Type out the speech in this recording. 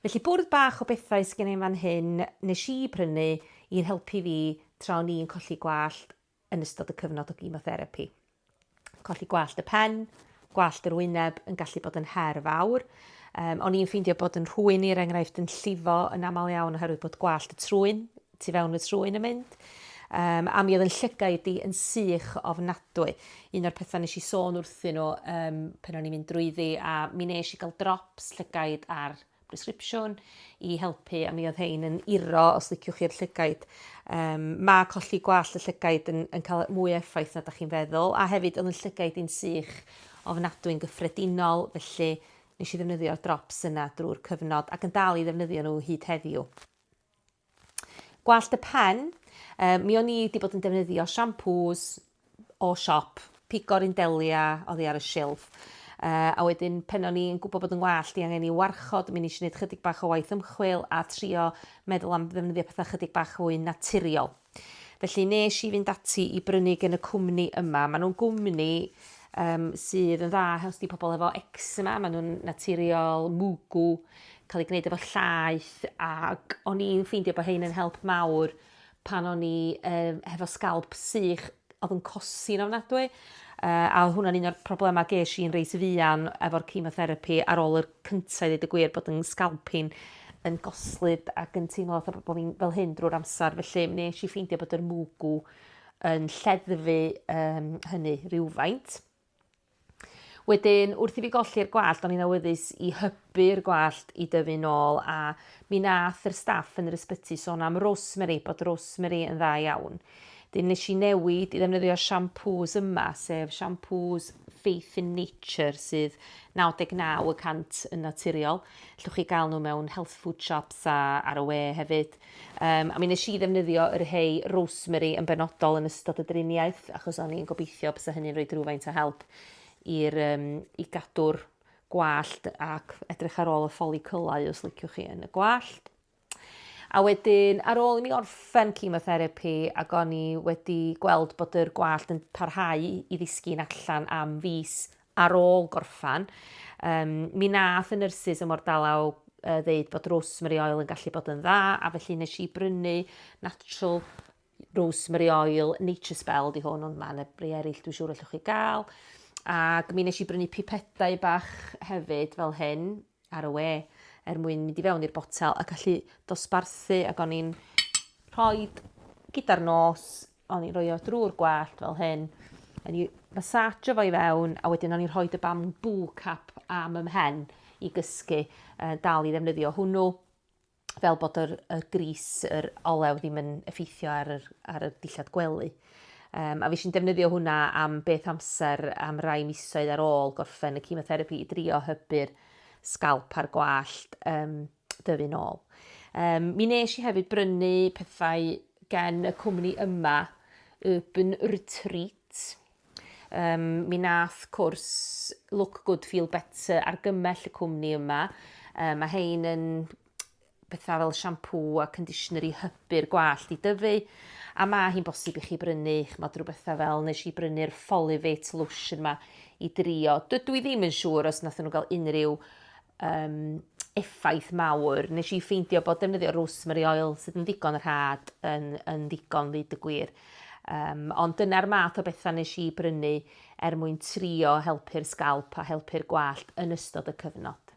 Felly bwrdd bach o bethau sy gen i yn fan hyn nes i brynu i'n helpu fi tra o'n i'n colli gwallt yn ystod y cyfnod o gimotherapi. Colli gwallt y pen, gwallt yr wyneb yn gallu bod yn her fawr. Um, o'n i'n ffeindio bod yn rhwy'n i, er enghraifft, yn llifo yn aml iawn oherwydd bod gwallt y trwyn tu fewn y trwyn yn mynd. Um, a mi oedd yn llygaid di yn sych ofnadwy. Un o'r pethau nes i sôn wrthyn nhw um, pen o'n i'n mynd drwyddi a mi nes i gael drops llygaid ar prescripsiwn i helpu a mi oedd hein yn iro os liciwch chi'r llygaid. Um, mae colli gwall y llygaid yn, yn cael mwy effaith na da chi'n feddwl a hefyd oedd yn llygaid i'n sych ofnadwy'n gyffredinol felly nes i ddefnyddio'r drops yna drwy'r cyfnod ac yn dal i ddefnyddio nhw hyd heddiw. Gwallt y pen, yy mi o'n i 'di bod yn defnyddio siampŵs o siop, pigor un delia oddi ar y silff. Uh, a wedyn pen o'n i'n gwybod bod yn wallt i angen i warchod, mi nes i wneud chydig bach o waith ymchwil a trio meddwl am ddefnyddio pethau chydig bach fwy naturiol. Felly nes i fynd ati i brynu gen y cwmni yma. Maen nhw'n gwmni um, sydd yn dda helpu pobl efo eczema. Maen nhw'n naturiol, mwgw, cael ei gwneud efo llaeth. Ac o'n i'n ffeindio bod hyn yn help mawr pan o'n i um, hefo sgalp sych oedd yn cosi'n ofnadwy. Uh, a oedd hwnna'n un o'r problemau ges i'n reis fuan efo'r chemotherapy ar ôl yr cynta i ddeud y gwir bod 'yn sgalpin yn goslyd ac yn teimlo fatha bo' fi'n fel hyn drwy'r amsar felly nesh i ffeindio bod yr mwgw yn lleddfu um, hynny rhywfaint. Wedyn, wrth i fi golli'r gwallt, o'n i'n awyddus i hybu'r gwallt i dyfu nôl a mi nath yr staff yn yr ysbyty sôn am rosemary, bod rosemary yn dda iawn. Wedyn nes i newid i ddefnyddio siampŵs yma, sef siampŵs Faith in Nature sydd 99 y cant yn naturiol. Llwch chi gael nhw mewn health food shops a ar y we hefyd. Um, a mi nes i ddefnyddio yr hei rosemary yn benodol yn ystod y driniaeth, achos o'n i'n gobeithio bys hynny'n rhoi drwyfaint o help i'r, um, i gadw'r gwallt ac edrych ar ôl y ffolicyllau os liciwch chi yn y gwallt. A wedyn, ar ôl i mi orffen chemotherapi ac o'n i wedi gweld bod yr gwallt yn parhau i ddisgyn allan am fis ar ôl gorffan, um, mi nath y nyrsys ym Mordalaw uh, ddeud bod rosemary oil yn gallu bod yn dda, a felly nes i brynu natural rosemary oil, nature spell di hwn, ond mae'n ebri eraill dwi'n siŵr allwch chi gael. Ac mi nes i brynu pipedau bach hefyd fel hyn, ar y we er mwyn mynd i fewn i'r botel a gallu dosbarthu ac o'n i'n rhoi gyda'r nos, o'n i'n rhoi o drwy'r gwallt fel hyn, o'n i'n massageio fo i fewn a wedyn o'n i'n rhoi y bamboo cap am ymhen i gysgu uh, dal i ddefnyddio hwnnw. fel bod yr, yr gris, yr olew ddim yn effeithio ar yr, ar y dillad gwely. Um, a fi sy'n defnyddio hwnna am beth amser am rai misoedd ar ôl gorffen y chemotherapi i drio hybu'r sgalp a'r gwallt um, dyfu'n ôl. Um, mi nes i hefyd brynu pethau gen y cwmni yma, Urban Retreat, Yym, mi nath cwrs Look Good Feel Better argymell y cwmni yma. Yy, mae hein yn bethau fel siampŵ a conditioner i hybu'r gwallt i dyfu, a mae hi'n bosib i chi brynu, ch'mod, rhyw bethau fel, nes i brynu'r Folivate lotion yma i drio. Dydw i ddim yn siŵr os nathon nhw gael unrhyw um, effaith mawr. Nes i ffeindio bod defnyddio rosemary oil sydd yn ddigon rhad yn, yn ddigon fyd y gwir. Um, ond dyna'r math o bethau nes i brynu er mwyn trio helpu'r sgalp a helpu'r gwallt yn ystod y cyfnod.